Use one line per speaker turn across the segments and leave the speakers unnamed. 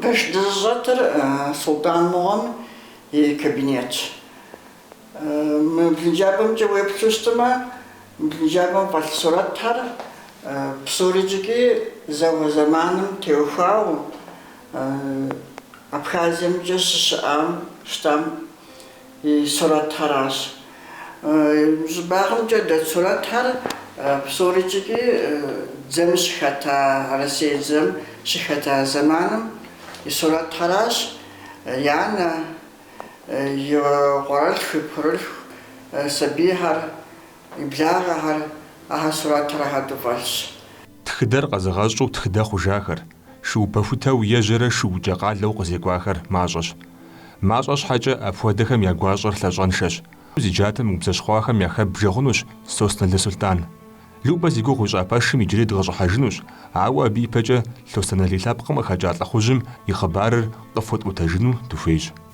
Пэш дызыщӏэтыр Султӏан мыгъуэм и кабинетщ. Мы блынджабэмкӏэ уеплъу щытмэ, мы блынджабэм фӏэлъ сурэтхэр псорикӏыкӏи зауэ зэманым теухуауэ, Абхазиемкӏэ щыщыӏам щытам и сурэтхэращ. Щӏыбагъымкӏэ дэт сурэтхэр псорикӏыкӏи дзэм щыхэта, Россие дзэм щыхэта зэманым и сурэтхэращ. И анэ, и къуэрылъху, и пхъурылъху сабийхэр, и благъэхэр ахэр сурэтхэр хэту фӏэлъщ. Тхыдэр
къэзыгъэщӏу тхыдэ хъужахэр, шыупэхутэу ежьэрэ шыукӏэ къалэу къызекӏуахэр мащӏэщ. Мащӏэ щхьэкӏэ, апхуэдэхэм я гуащӏэр лъэщӏэншэщ. Зи джатэ мыубзэщхъуахэм яхэббжэ хъунущ Сосналы Сулътӏан. Любэ зи гугъу ищӏа пэшым иджырей дыкъыщӏыхьэжынущ, ауэ абы ипэкӏэ Лъостэналий лъэпкъым къыхэкӏа лӏыхъужьым и хъыбарыр къыфхуэтӏуэтэжыну дыхуейщ.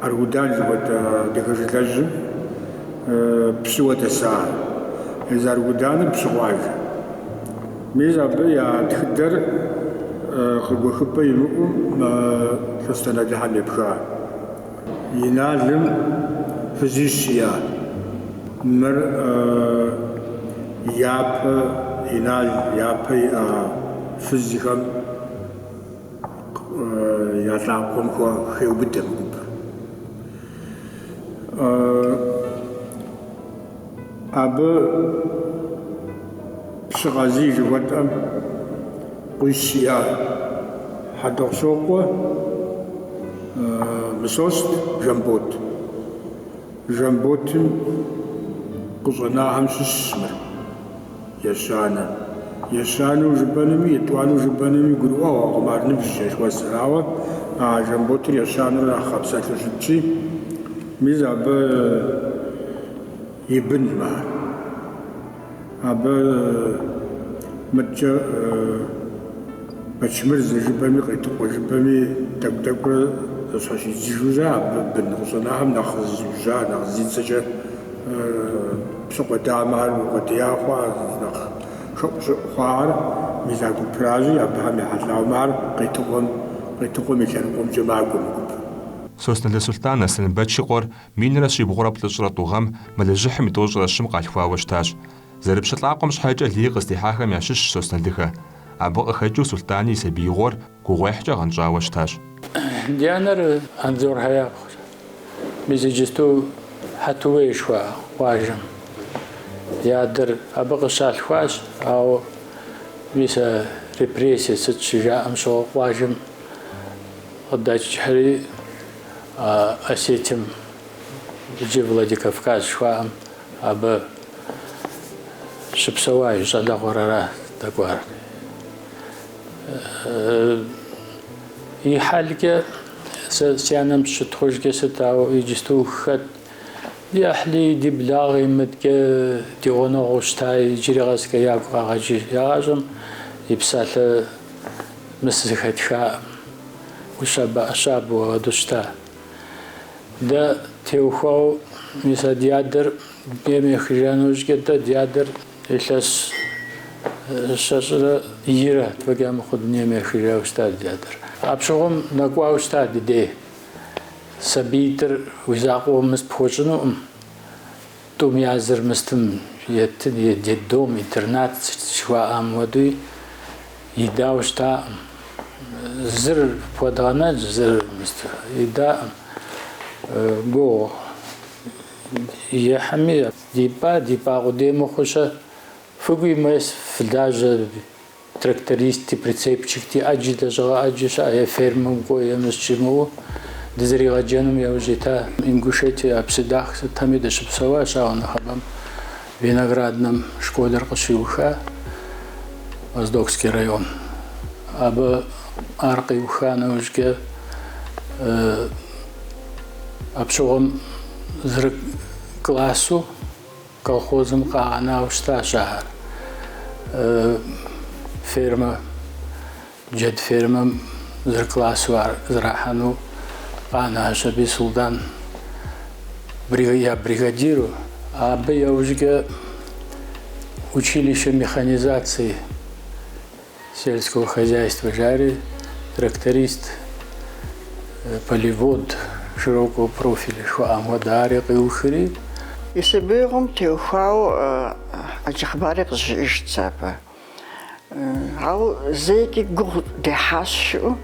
Аргудан жыхуэтӏэ адыгэ жылэжьым пщыуэ дэса езы Аргуданыр пщы къуажэ. Мис абы я тхыдэр къыгуэхыпӏэ имыӏэу мы Лъостэналыхэм епха. Иналым фызищ иӏа. Мыр япэ Инал япэ иӏэ фызхэм я лӏакъуэм хеубыдэ мы гупыр. Абы пщы Къазий жыхуэтӏэм къуищ иӏа Хьэтӏохъущокъуэ Мысост Жамбот. Жамботым къыщӏэнахэм щыщщ мыр. Ещанэ. Ещанэу жыпӏэнуми, етӏуанэу жыпӏэнуми гурыӏуэгъуэкъым ар ныбжь зэшуэсыр, ауэ а Жамботыр ещанэурэ нэхъ хъэпсэлъу щытщи, мис абы и бын мар. Абы мыдэкӏэ Бэчмырзэ жыпӏэми, Къетыкъуэ жыпӏэми тӏэкӏу-тӏэкӏурэ зэщхьэщидзыжурэ абы бын къыщӏэнахэм нэхъ зызиужьар, нэхъ зи цӏэкӏэ Псыхъуэ дамэр укъуэдия хъуа, нэхъ хэӏущӏыӏу хъуахэр мис а гупращи, абыхэм ехьэлӏауэ мар Къетыкъуэм, Къетыкъуэм и лъэныкъуэмкӏэ макӏуэ мы гупыр.
Сосналы Сулътӏан Аслъэнбэч и къуэр минрэ щибгъурэ плӏыщӏрэ тӏу гъэм мэлыжьыхьым и тӏощӏрэ щым къалъхуауэ щытащ. Зэрыпщылӏакъуэм щхьэкӏэ лей къыздихьахэм ящыщщ Сосналыхэ. Абы къыхэкӏыу Сулътӏани и сабиигъуэр, Гугъуехькӏэ гъэнщӏауэ щытащ. Ди
анэр Анзорхэ япхъущ. Мис иджысту Хьэтуей жыхуаӏэ къуажэм и адэр абы къыщалъхуащ, ауэ мис а репрессие сыт щыжаӏэм щыгъуэ къуажэм къыдэкӏхэри, а Осетием, иджы Владикавказ жыхуаӏэм, абы щыпсэуа и щӏалэгъуэр ара дэкӏуар. И хьэлкӏэ сэ си анэм щытхъужкӏэ сыт, ауэ иджысту хэт? Ди ӏыхьли, ди благъи мыдкӏэ ди гъунэгъуу щыта иджыри къэскӏэ ягу къагъэкӏыж. Ягъащӏэм и псалъэ мыс зыхэтхаӏым, ӏущабэ-ӏэщабэу агъэду щыта. Дэ теухуауэ мис а ди адэр дунейм ехыжа нэужькӏэ дэ ди адэр Илъэс щэщӏрэ ирэ фӏэкӏа мыхъуу дунейм ехыжауэ щыта ди адэр. Апщыгъуэм нэкӏуауэ щыта ди дей. Сабийтӏыр уи закъуэу мыс пхуэщӏынукъым. Тӏум я зыр мыстым еты, детдом, интернат жыхуаӏэм хуэдэуи, идауэ щытакъым. Зыр пхуэдгъэнэнщ, зыр мыст идакъым. Гугъу ехьми, Дипӏа, дипӏа къудей мыхъу-щэ? Фыкӏуи мес фылажьэ трактористи, прицепщикти, ӏэджи лэжьыгъэ ӏэджи щыӏэ е фермэм кӏуэ, е мыс жимыӏэу дызэригъэджэным яужь ита. Ингушетие а Пседах сытми дыщыпсэуащ, ауэ нэхъыбэм, Винограднэм школыр къыщиуха, Моздокский район. Абы ар къиуха нэужькӏэ апщыгъуэм зыры к. Классу колхозым къагъэнауэ щытащ ахэр. Фермэ, джэд фермэм зыр классу зэрахьэну къанэщ аби Султӏан я бригадиру. Абы яужкӏэ училище механизации. Сельского хозяйства жари, тракторист, полевод, широкого профиля жыхуаӏэм хуэдэ ари къиухри. И
сабиигъуэм теухуауэ ӏэджэ хъыбари къызжиӏэжт сэ абы. Ауэ зэикӏи гугъу дехьащ жиӏэу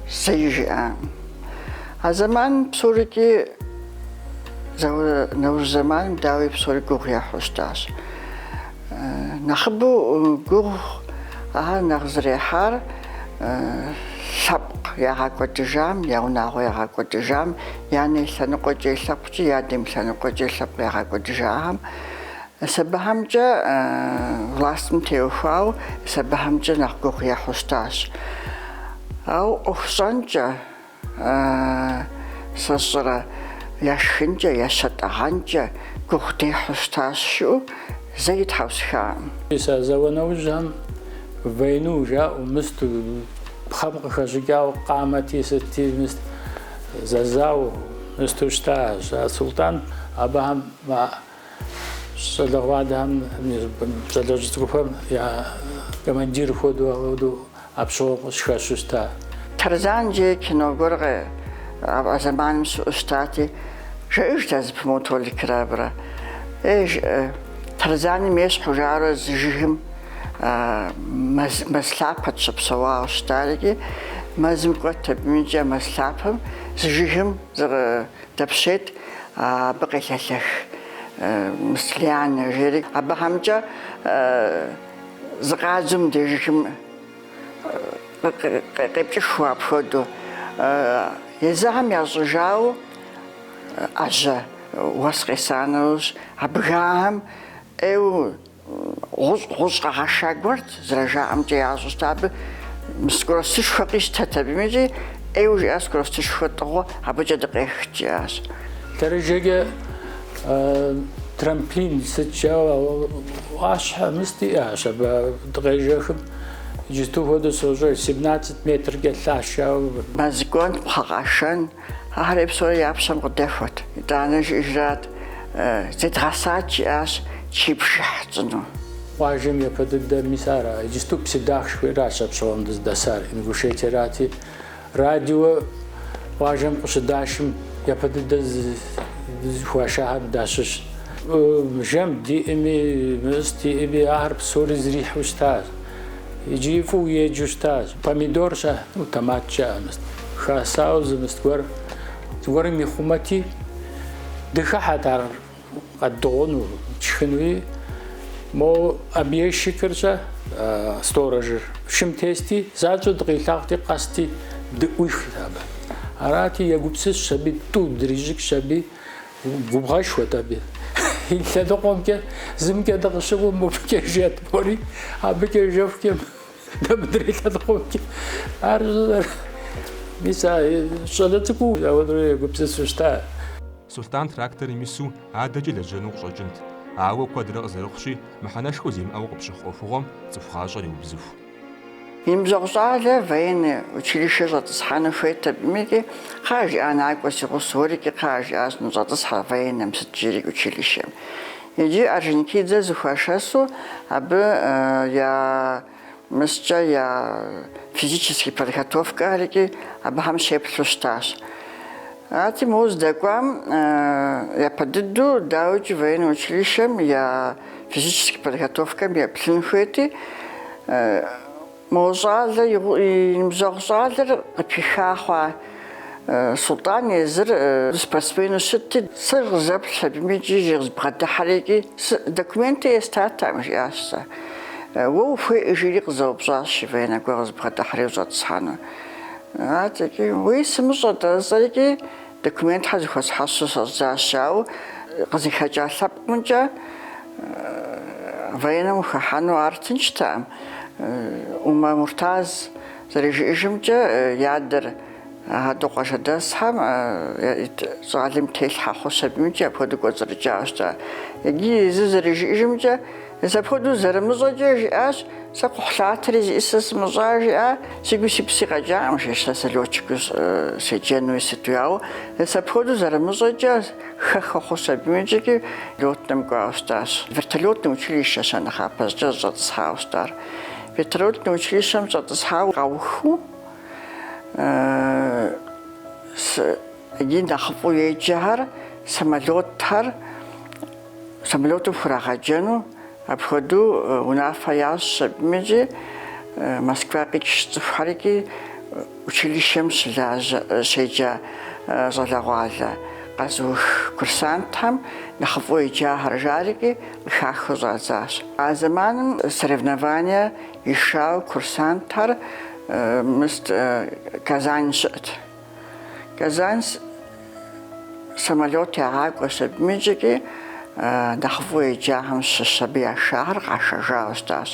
зэи жиӏакъым. А зэманым псорикӏи, зауэ нэужь зэманым, дауи, псори гугъу ехьу щытащ. Нэхъыбэу гугъу ар нэхъ зэрехьар лъэпкъ ягъэкӏуэдыжам, я унагъуэ ягъэкӏуэдыжам, я анэ и лъэныкъуэкӏэ и лъэпкъкӏи, и адэм и лъэныкъуэкӏэ и лъэпкъ ягъэкӏуэдыжахэм, мис абыхэмкӏэ властым теухуауэ мис абыхэмкӏэ нэхъ гугъу ехьу щытащ. Ауэ ӏуэхущӏэнкӏэ. Сэ сщӏэрэ, я шхынкӏэ, я щэтӏэгъэнкӏэ гугъу дехьу щытащ, жыӏэу зэи тхьэусыхакъым. Мис а зауэ
нэужьхэм войну жаӏэу мыст, пхъэм къыхэщӏыкӏауэ къамэти сытти мыст, зэзауэу мысту щытащ. А Султӏан абыхэм Щӏалэгъуалэхэм, щӏалэжь цӏыкӏухэм я командир хуэдэу ауэдэу а пщыгъуэ къыхэщу щыта. Тарзан
жи кино гуэркъэ а зэманым щыӏэу щытати, жиӏэжт ар зэпымыууэ Толикрэ абрэ. Э, жыӏэ, Тарзаным ещхьу жаӏэурэ зы жыгым мэз лъапэт щыпсэуауэ щытар икӏи мэзым кӏуэт абым икӏи а мэз лъапэм зы жыгым зы Дэпщейт, абы къелъэлъэх мис лианэ, жери абыхэмкӏэ зыкъадзу мыдежхэм къепкӏыхыу апхуэдэу. Езыхэм ящӏыжауэ ӏэжьэ уэс къесанэущ, а бгыхэм ӏейуэ Гъущӏ гъущӏ къэгъэша гуэрт, зэрыжаӏэмкӏэ ящӏ щыта абы скоростышхуэ къищтэт абым икӏи ӏейуэ жиӏа скоростышхуэ тӏыгъыу абыкӏэ дыкъехт жиӏащ. Лъэрыжэкӏэ
трамплин сыт жаӏэу ӏуащхьэ мыст жиӏащ абы дыкъежэхым иджысту хуэдэу сощӏэж семнацэт метр къэлъащ. Ауэ мэз
кӏуэн, пхъэ къэшэн. Ахэр псори я пщэм къыдэхуэрт. Итӏанэ жиӏэжрат, Зедгъэсат, жиӏащ, чы бжыхь тщӏыну. Къуажэм
япэ дыдэр мис ара, иджысту Пседах жыхуаӏэращ а пщыгъуэм дыздэсар, Ингушетиерати. Радио къуажэм къыщыдашым япэ дыдэ зыхуашахэм дащыщт. Жэм диӏэми, мыст диӏэми, ахэр псори зэрихьэу щытащ. Иджыри фӏыуэ еджэу щытащ. Помидор жаӏэу, томат жаӏэ, мыст, хасауэ зы мыст гуэр зыгуэрым ихъумэти, дыхыхьэт ар къэддыгъуну, тшхынуи. Мо объездчикыр жаӏэ, сторожыр шым тести, занщӏэу дыкъилъагъути, къэсти дыӏуихут абы. Арати, егупсысщ аби, тӏу дрищӏыкӏщ аби. Губгъэшхуэт абы. И лъэныкъуэмкӏэ зымкӏэ дыкъыщыгум мыбыкӏэ жет мори, абыкӏэ жэхукӏэ дэ мыдрей лъэныкъуэмкӏэ ар щӏызэр. Мис а щӏалэ цӏыкӏуу ауэдурэ егупсысу щыта.
Сулътӏан тракторым ису адэкӏэ лэжьэну къыщӏэкӏынт, ауэ куэдрэ къызэрыхъущи, мыхьэнэшхуэ зимыӏэу къыпщыхъу ӏуэхугъуэм цӏыху гъащӏэр еубзыху. И
ныбжьэгъу щӏалэр военный училищэ щӏэтӏысхьэну хуейт абыми-ки, кхъа жиӏа накӏуэ си гъусэ уэри-ки, кхъа жиӏащ ныщӏэтӏысхьэ военным сыт жери училищэм. Иджы Орджоникидзе зыхуашэсу абы я мыскӏэ я физический подготовкэхэри-ки абыхэм щеплъу щытащ. Арти мо здэкӏуам япэ дыдэу, дауикӏи военнэ училищэм я физическэ подготовкэм еплъын хуейти, мо щӏалэ и ныбжьэгъу щӏалэр къыпиха хъуа Султӏан езыр спортсмену щытти, сэ къызэплъщ абыми икӏи зы къызбгъэдыхьэри икӏи документи естатэкъым, жиӏащ сэ. Уэ ухуейкъэ? жиӏэри къызэупщӏащ и военнэ гуэр къызбгъэдыхьэри ущӏэтӏысхьэну. Атӏэкӏи, уей сымыщӏэ, тӏэ сэрикӏи документхэр зыхуэсхьэсу щӏэздзащ, ауэ къызыхэкӏа лъэпкъымкӏэ военнэм ухыхьэну ар тынштэкъым. Умэ Муртаз зэрыжиӏэжымкӏэ, и адэр Гъэду къуажэдэсхэм и щӏалэм телъхьэ хъущ абымикӏи апхуэдэу кӏуэцӏрыкӏауэ щыта. Иджы езыр зэрыжиӏэжымкӏэ, Зы апхуэдэу зэрымыщӏэкӏэ жиӏащ, Сэ кхъухьлъатэри зиӏысыр сымыщӏа, жиӏа, сигуи си пси къэкӏакъым, жи, сэ лётчикыу седжэнуи сытуи, ауэ зы апхуэдэу зэрымыщӏэкӏэ хэха хъущ абыми икӏи лётным кӏуауэ щытащ. Вертолётный училищэщ а нэхъапэ зыкӏэ зыщӏэтӏысхьауэ щытар. Вертолётный училищэм щӏэтӏысхьауэ къаухыу сыт и нэхъыфӏу еджэхэр, самолётхэр, Самолетым хурагъэджэну апхуэдэу унафэ ящӏщ абымикӏи, Москва къикӏщ цӏыхухэр икӏи училищэм щеджа щӏалэгъуалэ къэзыух курсантхэм нэхъыфӏу еджахэр жарикӏи къыхахыу щӏадзащ. А зэманым соревнование яшауэ курсантхэр мыст Казань щыӏэт. Казань самолет ягъакӏуэщ абымикӏи икӏи, нэхъ фӏыуэ еджахэм щыщ абы яшахэр къашэжауэ щытащ.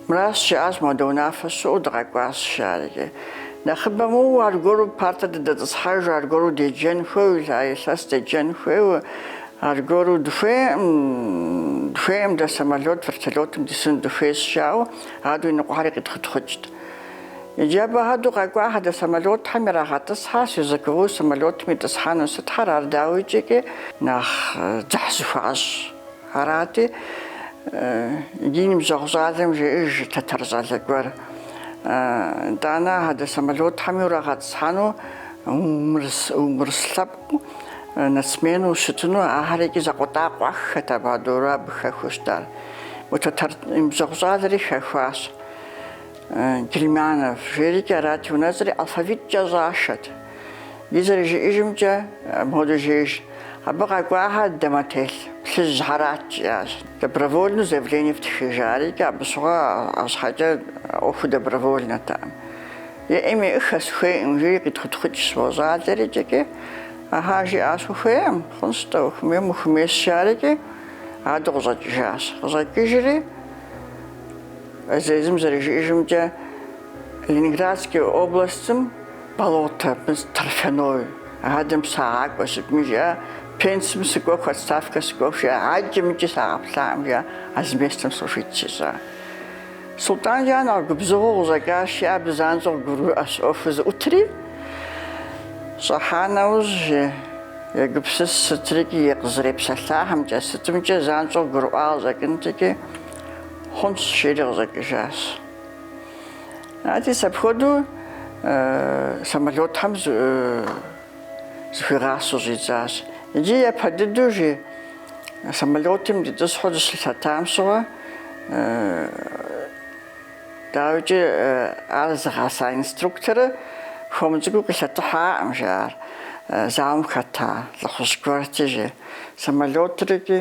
Мыращ жиӏащ, Модэ унафэ щыӏэу дыкъэкӏуащ, жаӏэрикӏи. Нэхъыбэм уэ аргуэру партэ дыдэтӏысхьэж, аргуэру деджэн хуейуэ, а илъэс деджэн хуейуэ, аргуэру дыхуейкъым, дыхуейкъым дэ самолет, вертолетым дисыну дыхуейщ, жаӏэу адуи ныкъуэхэри къитхъутхъукӏт. Иджы абы хуэдэу къэкӏуа апхуэдэ самолётхэм ирагъэтӏысхьэ, сверхзвуковой самолётым итӏысхьэну сытхэр ар дауикӏи нэхъ дзыхь зыхуащӏ арати, иджы и ныбжьэгъу щӏалэм жеӏэж тэтэр щӏалэ гуэр, итӏанэ апхуэдэ самолётхэми урагъэтӏысхьэну умыурыс лъэпкъ нацмену ущытыну, ахэр икӏи закъуэтӏакъуэххэт абы хуэдэурэ абы хэхуэу щытар. Уэ тэтэр ныбжьэгъу щӏалэри хэхуащ. Германов жиӏэрикӏ арати, унэцӏэри алфавиткӏэ щӏашэт. Иджы зэрыжиӏэжымкӏэ, мопхуэдэу жеӏэж, абы къэкӏуахэр дамэтелъ плъыжьхэрат, жиӏащ. Добровольнэу заявление фтхы, жаӏэрикӏэ, абы щыгъуэ арщхьэкӏэ ӏуэхур добровольнэтэкъым. Еӏим-еӏыххэ сыхуейкъым, жиӏэри къитхутхъукӏ сфӏощӏ щӏалэри икӏи, Ахьа, жиӏащ, ухуейкъым, хъунщ-тӏэ, ухуэмеймэ ухуэмейщ, жаӏэрикӏи, адэу къыщӏэкӏыжащ. Къыщӏэкӏыжри. Езым зэрыжиӏэжымкӏэ, Ленинградскэ областым болото, торфяной, адэм сагъакӏуэ сытми жиӏэ, пенсым сыкӏуэху, отставкэ сыкӏуэху жиӏэ, аджэм икӏи сагъэплъакъым жиӏэ, а зы местым служить сщӏащ. Султӏан жиӏар нэхъ губзыгъэу къыщӏэкӏащи, ар абы занщӏэу къыгурыӏуэщ ӏуэхур зыӏутри, щӏыхьа нэужь егупсыс сытрикӏи, и къызэрепсэлъахэмкӏэ сытымкӏэ занщӏэу къыгурыӏуа къыщӏэкӏынти икӏи, Хъунщ, жери къыщӏэкӏыжащ. Ати, апхуэдэу самолетхэм зыхуигъасэу щӏидзащ. Иджы япэ дыдэу жи самолетым дытӏысхьэу дыщылъэтам щыгъуэ, дауикӏи, ар зыгъэса инструкторыр хуэм цӏыкӏуу къилъэтыхьакъым, жи ар зауэм хэта лӏыхъужь гуэрти, жи самолетыр икӏи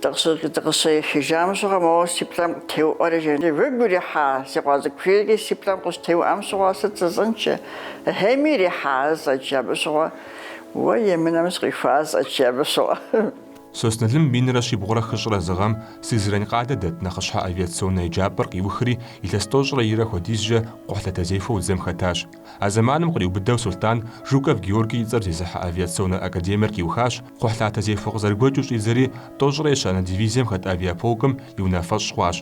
Дыкъыщыехыжам щыгъуэ моуэ си плӏэм къытеуӏуэри жи уигу ирихьа си къуэ цӏыкӏу жери си плӏэм къыщытеуӏуам щыгъуэ сыт жысӏэнт ахьей ирихьа жысӏащ абы щыгъуэ уэ емынэм сыкъихуа жысӏащ абы щыгъуэ.
Сосналым минрэ щибгъурэ хыщӏрэ зы гъэм Сызрань къалэ дэт нэхъыщхьэ авиационнэ еджапӏэр къиухри, илъэс тӏощӏрэ ирэ хуэдизкӏэ кхъухьлъатэзехуэу дзэм хэтащ. А зэманым къриубыдэу Сулътӏан Жуков Георгий и цӏэр зезыхьэ авиационнэ академиер къиухащ, кхъухьлъатэзехуэ къызэрыгуэкӏыу щӏидзэри, тӏощӏрэ ещанэ дивизием хэт авиаполкым и унафэщӏ хъуащ.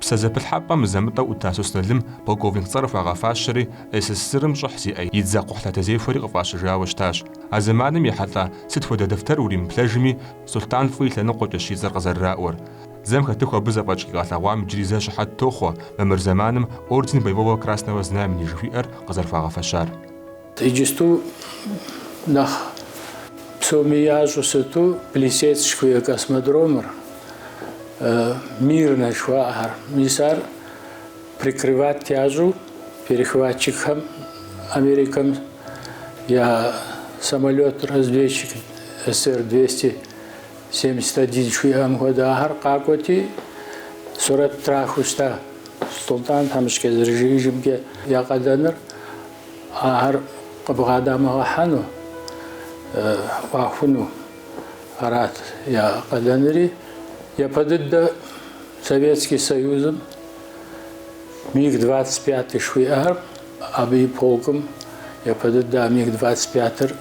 Псэ зэпылъхьэпӏэм мызэ-мытӏэу ӏута Сосналым полковник цӏэр хуагъэфащэри, СССР-м щӏыхь зиӏэ и дзэ кхъухьлъатэзехуэри къыфӏащыжауэ щытащ. А зэманым ехьэлӏа сыт хуэдэ дэфтэр уримыплъэжми, Сулътӏан фӏы и лъэныкъуэкӏэщ и цӏэр къызэрыраӏуэр. Дзэм хэтыху абы зэфӏэкӏ къигъэлъэгъуам иджыри зэ щыхьэт тохъуэ мамыр зэманым Орден Боевого Красного Знамени жыхуиӏэр къызэрыхуагъэфэщар. Иджысту
нэхъ псоми ящӏу сыту Плесецк жыхуиӏэ космодромыр, Мирнэ жыхуаӏэхэр, мис ар прикрывать ящӏу перехватчикхэм Америкэм я самолет-разведчик СР-двести Семьдесят один жыхуиӏэм хуэдэ ахэр къакӏуэти, сурэт трахыу щыта Султӏан тхьэмыщкӏэ зэрыжриӏэжымкӏэ я къалэныр ахэр къыбгъэдамыгъэхьэну, ӏуахуну арат я къалэныри. Япэ дыдэ Советский Союзым миг двадцать пятый жыхуиӏэхэр абы и полкым япэ дыдэ а миг двадцать пятыр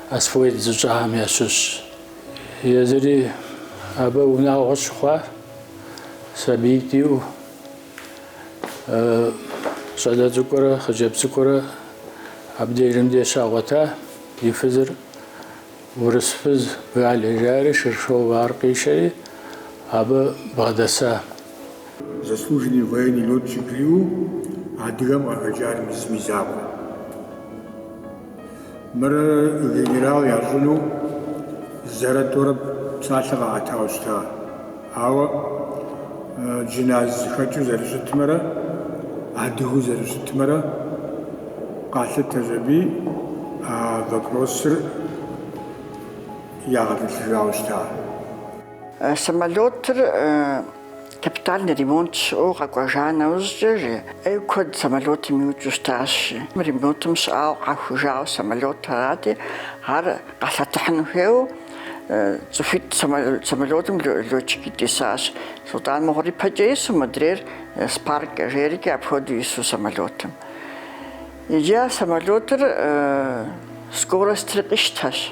освоить зыщӏахэм ящыщщ. Езыри абы унагъуэ щыхъуа сабиитӏ иӏэу щӏалэ цӏыкӏурэ хъыджэбз цӏыкӏурэ абдежым де щагъуэта, и фызыр урыс фыз Галя жари Шершова, ар къишэри абы бгъэдэса.
заслуженный военный летчикриу адыгэм къахэкӏар мис мы и закъуэ. Мыр генерал ящӏыну зэрэ тӏурэ псалъэ къаӏэтауэ щыта. Ауэ джыназ зыхэкӏыу зэрыщытмэрэ адыгэу зэрыщытмэрэ къалъытэщ аби а вопросыр ягъэтӏылъыжауэ щыта.
Самолетыр капитальный ремонт щыӏэу къэкӏуэжа нэужькӏэ, жи, ӏей куэд самолетым иукӏыу щытащ, жи. Ремонтым щыӏауэ къахужауэ самолет арати, ар къалъэтыхьыну хуейуэ цӏыхуитӏ самолетым летчикитӏ исащ. Султӏан мыгъуэр ипэкӏэ ису модрейр Спаркэ жейрикӏи апхуэдэу ису самолетым. Иджы а самолетыр скоростри къищтэщ.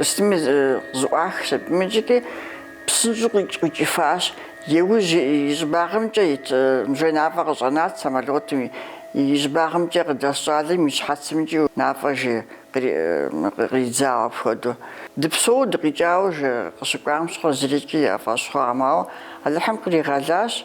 Сытми зэӏуахщ аби иджыти псынщӏэу къикӏыфащ. Иужь и щӏыбагъымкӏэ и мы жей нафӏэ къыщӏэнат самолетым и щӏыбагъымкӏэ къыдэс щӏалэм и щхьэцымкӏи нафӏэ жей къридзауэ апхуэдэу. Дыпсэууэ дыкъикӏауэ жей къыщыкӏуам щыгъуэ зырикӏи яфӏэщ хъуакъым, ауэ Алыхьым къригъэлащ.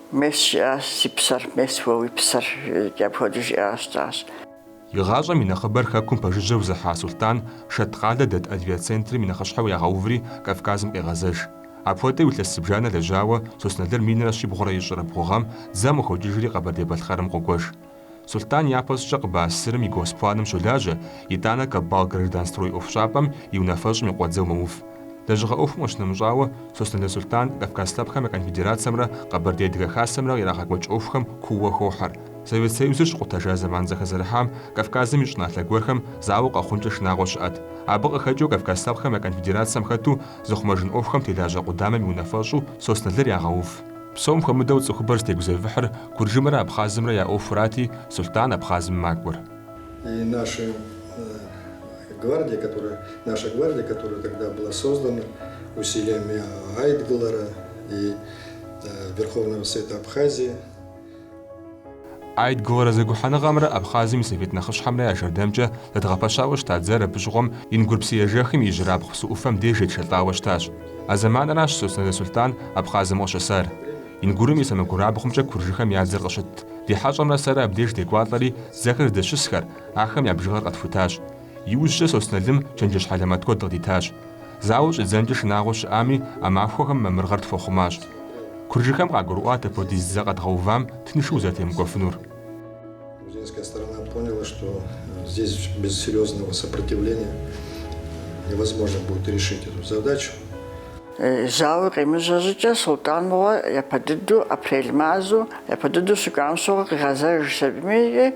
Мес жиӏащ си псэр, мес уэ уи псэр, жиӏэкӏи апхуэдэу жиӏа щытащ. Игъащӏэм
и нэхъыбэр Хэкум пэжыжьэу зыхьа Сулътӏан Шэт къалэ дэт авиацентрым и нэхъыщхьэу ягъэуври Кавказым къегъэзэж. Апхуэдэу илъэс зыбжанэ лэжьауэ Сосналыр минрэ щибгъурэ ищӏрэ бгъу гъэм дзэм къыхокӏыжри Къэбэрдей-Балъкъэрым къокӏуэж. Сулътӏан япэщӏыкӏэ КъБАССР-м и госпланым щолажьэ, итӏанэ Каббалгражданстрой ӏуэхущӏапӏэм и унафэщӏым и къуэдзэу мэув. Лэжьыгъэ ӏуэхум къыщынэмыщӏауэ, Сосналы Сулътӏан Кавказ Лъэпкъхэм я Конфедерацэмрэ Къэбэрдей Адыгэ Хасэмрэ ирагъэкӏуэкӏ ӏуэхухэм куууэ хохьэр. Совет Союзыр щыкъутэжа зэман зэхэзэрыхьам Кавказым и щӏыналъэ гуэрхэм зауэ къэхъункӏэ шынагъуэ щыӏэт. Абы къыхэкӏыу Кавказ Лъэпкъхэм я Конфедерацэм хэту зыхъумэжын ӏуэхухэм телажьэ къудамэм и унафэщӏу Сосналыр ягъэув. Псом хуэмыдэу цӏыхубэр зытегузэвыхьыр Куржымрэ Абхъазымрэ я ӏуэхурати, Сулътӏан Абхъазым макӏуэр. И
наша гвардия, которая тогда была создана усилиями Айдгылара и Верховного Совета Абхазии,
Айдгылара зэгухьэныгъэмрэ Абхъазым и Совет нэхъыщхьэмрэ я жэрдэмкӏэ зэдгъэпэщауэ щыта дзэр абы щыгъуэм Ингур псыежэхым и ижьырабгъу псы ӏуфэм деж етшэлӏауэ щытащ. А зэманращ Сосналы Сулътӏан Абхъазым къыщысар. Ингурым и сэмэгурабгъумкӏэ куржыхэм я дзэр къыщытт. Ди хьэщӏэмрэ сэрэ абдеж декӏуалӏэри, дзэхэр здэщысхэр, ахэм я бжыгъэр къэтхутащ. Иужькӏэ Сосналым чэнджэщ хьэлэмэт куэд къыдитащ. Зауэ щӏидзэнкӏэ шынагъуэ щыӏами, а махуэхэм мамырыгъэр тхуэхъумащ. Куржыхэм къагурыӏуат апхуэдиз дзэ къэдгъэувам тыншу узэрытемыкӏуэфынур. Грузинская
сторона поняла, что здесь без серьезного сопротивления невозможно будет решить эту
задачу. Зауэ къемыжьэ щӏыкӏэ Сулътӏан мыгъуэ япэ дыдэу апрель мазэу, япэ дыдэу щыкӏуам щыгъуэ къигъэзэж сабийми,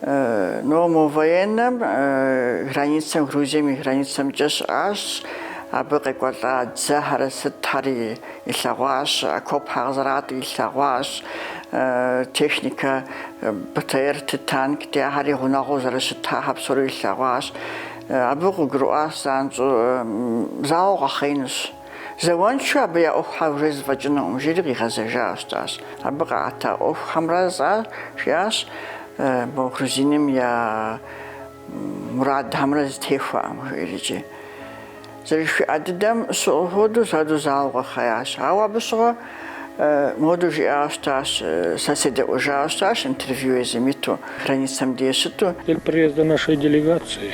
Ну, мо военнэм границэм, Грузием и границэмкӏэ щыӏащ, абы къекӏуэлӏа дзэхьэри сытхьэри илъэгъуащ, окопхьэ къызэратӏи илъэгъуащ, техникэ БТР-ти, танкти, ахьэри гъунэгъуу зэрыщытахьэр псори илъэгъуащ. Абы къыгурыӏуащ занщӏэу зауэ къэхъеинущ. Зауэншэу абы я ӏуэхухьэ уже зэфӏэкӏынукъым, жиӏэри къигъэзэжауэ щытащ. Абы къаӏэта ӏуэхухэмрэ зӏар жиӏащ мо грузиным я мурадхэмрэ зэтехуэкъым, жиӏэри икӏи. Зэрыжыхуиӏа дыдэм щыгъу хуэдэу задэу зауэ къэхъеящ. Ауэ абы щыгъуэ модэу жиӏауэ щытащ, сэ седэӏуэжауэ щытащ интервью езым иту, границэм деж щыту. Цель приезда нашей
делегации.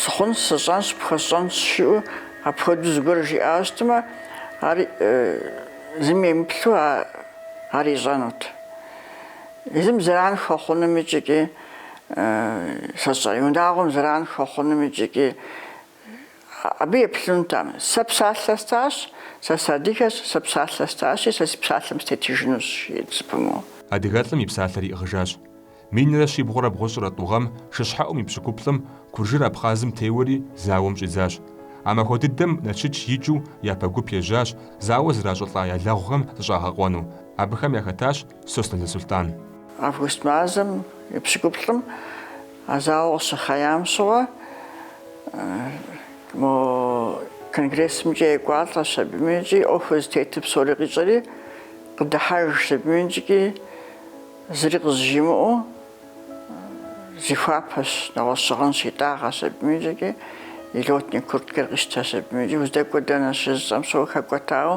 Сыхъунщ, сщӏэнщ, пхуэсщӏэнщ, жиӏэу апхуэдэу зыгуэр жиӏауэ щытмэ, ар зыми емыплъу ар ищӏэнут. Езым зэран хуэхъунум икӏи унагъуэм зэран хуэхъунум икӏи абы еплъынутэкъым. Сэ псалъэ стащ, сэ сыадыгэщ, сэ псалъэ стащи, сэ си псалъэм сытетыжынущ, жиӏэрт зэпымыу. Адыгэлӏым и псалъэр
иӏыгъыжащ. Минрэ щибгъурэ бгъущӏрэ тӏу гъэм шыщхьэӏум и пщыкӏуплӏым куржыр Абхъазым теуэри зауэм щӏидзащ. А махуэ дыдэм Налшык икӏыу япэ гуп ежьащ зауэ зращӏылӏа я лэгъухэм зыщӏагъэкъуэну. Абыхэм яхэтащ Сосналы Сулътӏан. Август
мазэм и пщыкӏуплӏым а зауэ къыщыхъеям щыгъуэ мо конгрессымкӏэ екӏуалӏэщ абыми икӏи ӏуэхур зытетыр псори къищӏэри къыдыхьэж абыми икӏи. Зыри къызжимыӏэу зихуапэщ, нэгъуэщӏ щыгъын щитӏагъэщ абыми икӏи, и лётнэ курткэр къищтэщ абыми икӏи, уздэкӏуэ дэнэ щыжысӏэм щыгъуэ хэкӏуэтауэ,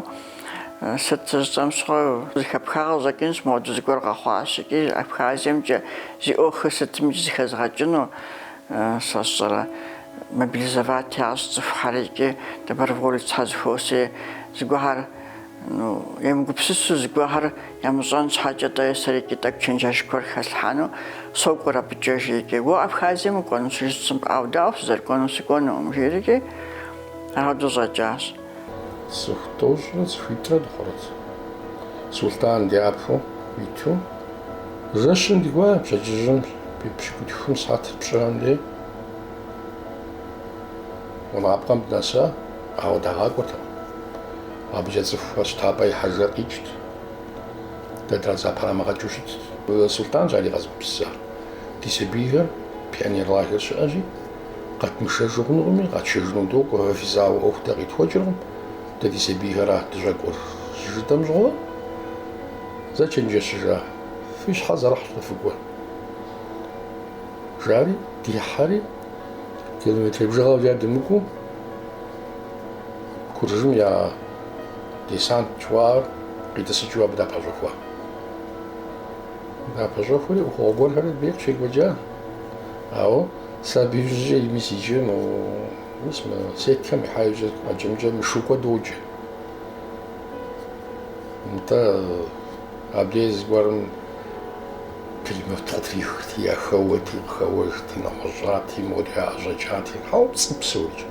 сыт щыжысӏэм щыгъуэ зыхэпхагъэ щӏэкӏынщ, моуэдэ зыгуэр къэхъуащ икӏи Абхазиемкӏэ зи ӏуэхур сытми икӏи зыхэзгъэкӏыну, сэ сщӏэрэ, мобилизовать ящӏ цӏыхухьэри икӏи доброволецхэр зэхуос, ей, зыгуэхьэр. Ну, емыгупсысу зыгуэхэр ямыщӏэн щхьэкӏэ тӏэ сэрикӏи тӏэкӏу чэнджэщ гуэр хэслъхьэну сокӏуэр абыкӏэ, жиӏэ икӏи. Уэ Абхазием укӏуэну щыжысӏэм, ӏэу, дауэ сызэрыкӏуэнур сыкӏуэнукъым, жиӏэрикӏи, апхуэдэу щӏэкӏащ.
Цӏыху тӏощӏрэ цӏыхуитӏрэ дыхъурт. Сулътӏан дяпэу иту, жэщым дыкӏуа, пщэдджыжьым пщыкӏутхум сыхьэт пщӏыхьэм дей, гъунапкъэм дынэса. Ауэ дагъакӏуэртэкъым. Абыкӏэ цӏыху щтапӏэ ихьэжыр къикӏт. Дэ дызэпрамыгъэкӏыу щытт. Сулътӏанщ ари къэзыгупсысар. Ди сабийхэр пионер лагерь щыӏэщи, къэтмышэжу хъунукъыми, къэтшэжыну докӏуэ, фэ фи зауэ ӏуэху дэ къитхуэкӏыркъым, дэ ди сабийхэра дыщӏэкӏуэр, щыжытӏэм щыгъуэ, зэчэнджэщыжа, фи щхьэр зэрыхьщ тӏэ, фыкӏуэ, жари, дихьэри. километр бжыгъэу а дымыкӏуу, куржым я десант гуэр къитӏысыкӏыу абы дапэщӏэхуа. Дапэщӏэхури ӏуэхугъуэ гуэрхэри абдей къыщекӏуэкӏа. Ауэ сэ абы ищӏыкӏэ ими сикӏэ мы мис мы сеткэм ихьа ищӏэ къэкӏэмкӏэ Мышукӏуэ доджэ. Нтӏэ абдей зыгуэрым Пулемёт къытрихырти, яхэуэти, къыхэуэжти, нэгъуэщӏати, мор яӏэщӏэкӏати, хьэуэ, пцӏыщ псори.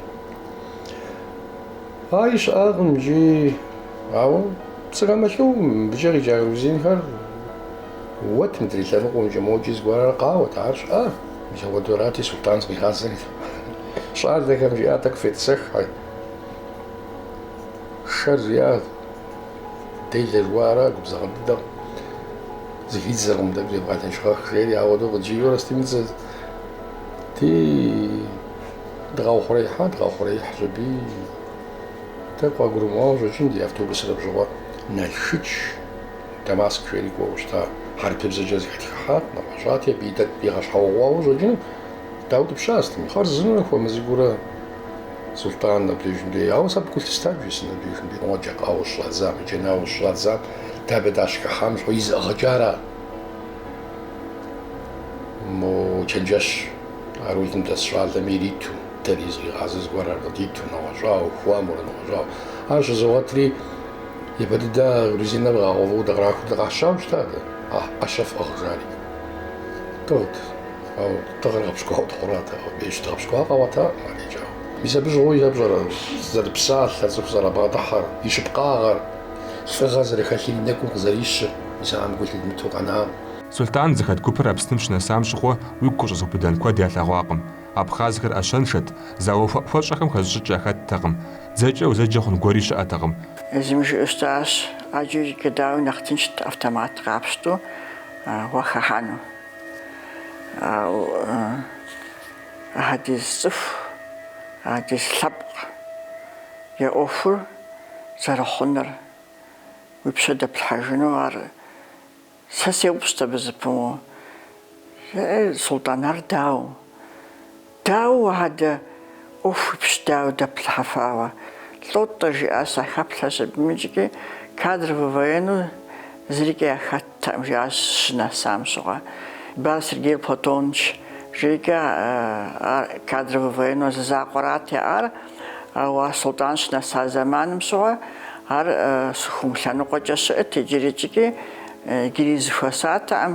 Ар щыӏакъым икӏи, ауэ пцӏы хэмылъу, мыбыкӏэ къикӏа грузинхэр уэт мыдрей лъэныкъуэмкӏэ, мокӏи зыгуэрхэр къауэт, ар щыӏа, мис апхуэдэурати Сулътӏан зыкъигъазэри. Щӏалэхэм жиӏа, тӏэкӏу фетӏысэххьэ, шэр жиӏа, Делэ жыуара, губзыгъэ дыдэкъым, зыхидзэркъым дэ бжевгъэлэжьыгъэх жери, ауэ ду къыджиӏэурэ стимыдзэ. Ди дыкъиухъуреихьа, дыкъиухъуреихьщ аби. Тӏэкӏу къыгурымыӏуауэ щӏэкӏын ди автобусыр абжьыгъуэ Налшыч, Дамаск жери кӏуэуэ щыта, хьэрыпыбзэкӏэ зэхэтхыхьат къыфӏэщӏати, абыи дэ дигъэщхьэуэгъуауэ щӏэкӏыну дауэ дапщэу щытми. Хъарзынэурэ хуэм цӏыкӏуурэ. Сулътӏан абдежым дей. Ауэ сэ абы гу лъыстам жысӏэн абдежым дей. Къуэкӏэ къауэ щӏадзам, иджэнауэ щӏадзам, дэ абы дащыхыхьам щыгъуэ и зыӏыгъыкӏэ ара? Мо чэнджэщ а рулым дэс щӏалэми ириту, дэри зыкъигъазэ зыгуэрэ къыдиту, нэгъуэщӏауэ, хуэмурэ нэгъуэщӏауэ. Ар щызогъэтри, япэ дыдэ грузиным къагъэувэу дыкърахуу дыкъащауэ щыта дэ, ӏэщэ фӏыгъ, жари. Тӏэут. Ау тыгъэр къыпщыкӏуауэ тхъурат, ауэ бейщ дыкъыпщыкӏуар къэуэта арикӏа? Мис абы щыгъуи сэ пщӏэрэ зэрыпсалъэр, цӏыху зэрабгъэдыхьэр, и щыпкъагъэр, лӏыгъэ зэрыхэлъыр и нэкӏум къызэрищыр, мис ахэм гу лъыдмыту къэнакъым. Сулътӏан зыхэт
гупыр Апсным щынэсам щыгъуэ уигу къыщӏэзыубыдэн куэд ялъэгъуакъым. Абхъазхэр ӏэщэншэт, зауэ хуэӏухуэщӏэхэм хэзыщӏыкӏ яхэттэкъым, дзэкӏэ узэджэ хъун гуэри щыӏэтэкъым. Езым
жиӏэу щытащ, ӏэджэкӏэ дауи нэхъ тыншт автомат къапщту уахыхьэну. Ауэ апхуэдиз цӏыху, апхуэдиз лъэпкъ я ӏуэхур зэрыхъунур, уи пщэ дэплъхьэжыну ар сэ сеупщӏт абы зэпымыууэ, Султӏан, ар дауэ? Дауэ адэ, ӏуэху уи пщэ дауэ дэплъхьэфауэ? Лӏо-тӏэ, жиӏащ сахэплъэщ абым икӏи, кадровый военну зырикӏ яхэттэкъым, жиӏащ щынэсам щыгъуэ. Дбар Сергей Платоныч, жейкӏэ ар кадровый военну зы закъуэрат яӏар, ауэ Султӏан щынэса зэманым щыгъуэ ар Сыхъум лъэныкъуэкӏэ щыӏэт, иджырикӏкӏи иджыри зэхуэзатэкъым.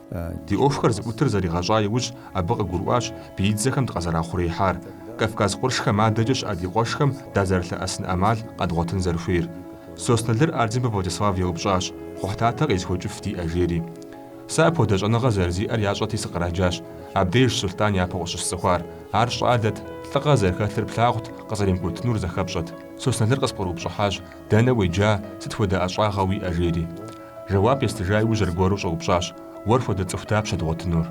Ди ӏуэхухэр зыӏутыр зэригъэщӏа иужь, абы къыгурыӏуащ биидзэхэм дыкъызэрахъуреихьар, Кавказ къуршхэм адэкӏэ щыӏэ ди къуэшхэм дазэрылъэӏэсын ӏэмал къэдгъуэтын зэрыхуейр. Сосналыр Ардзинбэ Владислав еупщӏащ, Кхъухьлъатэ къезыхуэкӏыф диӏэ, жери. Сэ апхуэдэ щӏэныгъэ зэрызиӏэр ящӏэти сыкъраджащ. Абдежщ Сулътӏан япэу къыщысцӏыхуар. Ар щӏалэт, лӏыгъэ зэрыхэлъыр плъагъут, къызэримыкӏуэтынур зэхэпщӏэт. Сосналыр къыспкърыупщӏыхьащ, Дэнэ уеджа, сыт хуэдэ ӏэщӏагъэ уиӏэ? жери. Жэуап естыжа иужь аргуэру щӏэупщӏащ, Уэр хуэдэ цӏыху дапщэ дгъуэтынур?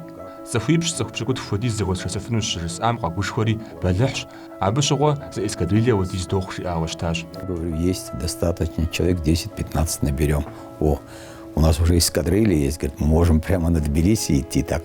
Цӏыхуипщӏ цӏыху пщыкӏутху хуэдиз зэхуэсшэсыфыну щыжысӏам къэгушхуэри, бэлыхьщ, абы щыгъуэ зы эскадрилья хуэдиз дохъу жиӏауэ щытащ. Я говорю,
есть достаточно, человек десять пятнадцать наберём. О, у нас уже эскадрилья есть, говорит, мы можем прямо на Тбилиси идти, так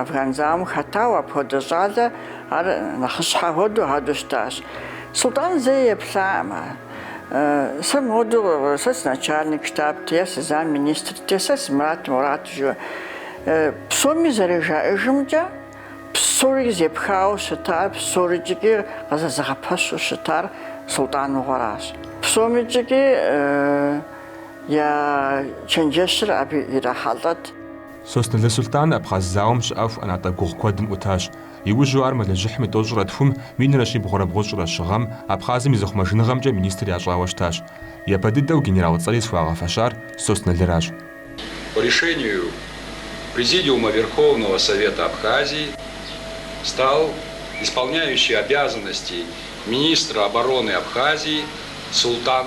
Афган зауэм хэтауэ апхуэдэ щӏалэ ар нэхъыщхьэ хуэдэу хадэу щытащ. Султӏан зэи еплъаӏым ар. Сэ модэу, сэ сыначальник штабт, е сызамминистрт, е сэ сымырат-морат жиӏэу. Псоми зэрыжаӏэжымкӏэ, псори зэпхауэ щытар, псорикӏ икӏи къызэзыгъэпэщу щытар Султӏаныгъуэращ. Псомикӏ икӏи я чэнджэщыр абы ирахьэлӏэт.
Соснэлы Сулътӏан Абхъаз зауэм щыӏэху ӏэнатӏэ гугъу куэдым ӏутащ. Иужьу ар мэлыжьыхьым и тӏощӏрэ тхум, минрэ щибгъурэ бгъущӏрэ щы гъэм, Абхъазым и зыхъумэжыныгъэмкӏэ министр ящӏауэ щытащ. Япэ дыдэу генерал цӏэри зыхуагъэфэщар Соснэлыращ.
По решению Президиума Верховного Совета Абхазии стал исполняющий обязанности министра обороны Абхазии Султӏан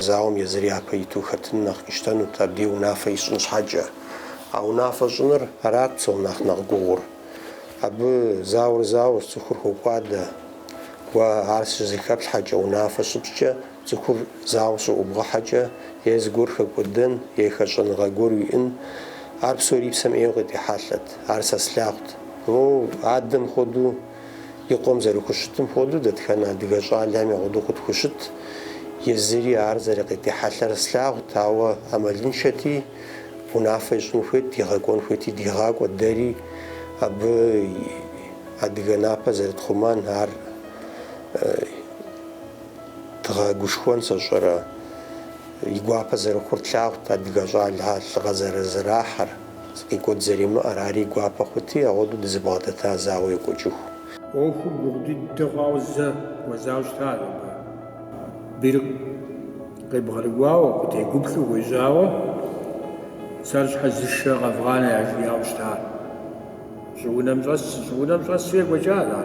Зауэм езыр
япэ иту хэтын нэхъ къищтэнут, абдей унафэ ищӏын щхьэкӏэ. А унафэ щӏыныр арат псом нэхъ нэхъ гугъур. Абы зауэр зауэщ, цӏыхур хокӏуадэ. Уэ ар щызэхэплъхьэкӏэ, унафэ щыпщӏкӏэ, цӏыхур зауэ щыӏубгъэхьэкӏэ, е зыгуэр хэкӏуэдэн, е хэщӏэныгъэ гуэр уиӏэн, ар псори псэм ӏейуэ къытехьэлъэт. Ар сэ слъагъут. Моу адэм хуэдэу и къуэм зэрыхущытым хуэдэу дэтхэнэ адыгэ щӏалэхэми ауэдэу къытхущытт. Езыри ар зэрыкъытехьэлъэр слъагъут, ауэ ӏэмалыншэти, унафэ ищӏын хуейт, дигъэкӏуэн хуейти дигъакӏуэт, дэри абы адыгэ напэ зэрытхъумэн ар дгъэгушхуэн сощӏэрэ, и гуапэ зэрыхъур тлъагъут адыгэ щӏалэхэр лӏыгъэ зэрызэрахьэр. Къикӏуэт зэримыӏэр, ар и гуапэ хъути, ауэдэу дызэбгъэдэта зауэ екӏуэкӏыху. ӏуэхур
гугъу дыдэ хъуауэ зэ хуэзауэ щыта. Бийр къебгъэрыкӏуауэ, къытегуплӏэу хуежьауэ, сэр щхьэ зы шэ къэвгъанэ яжиӏауэ щыта. Щӏыунэм щӏэсщ, щӏыунэм щӏэсщи екӏуэкӏа.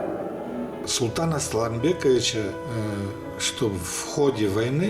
Султан
Асланбековича, чтоб в ходе войны,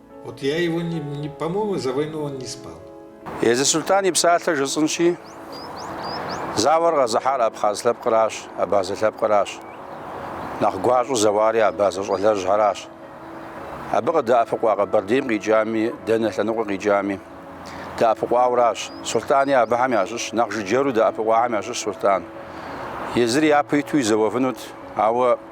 Вот я его не, не, по-моему, за войну он не спал. Езы
Султан и псалъэ жысӏынщи, зауэр къэзыхьар абхъаз лъэпкъращ, абазэ лъэпкъращ. Нэхъ гуащӏу зэуари абазэ щӏалэжьхэращ. Абы къыдэӏэпыкъуа Къэбэрдейм къикӏами, дэнэ лъэныкъуэ къикӏами, дэӏэпыкъуауращ. Султӏани абыхэм ящыщ, нэхъ жыджэру дэӏэпыкъуахэм ящыщ Султӏан. Езыри япэу иту зэуэфынут, ауэ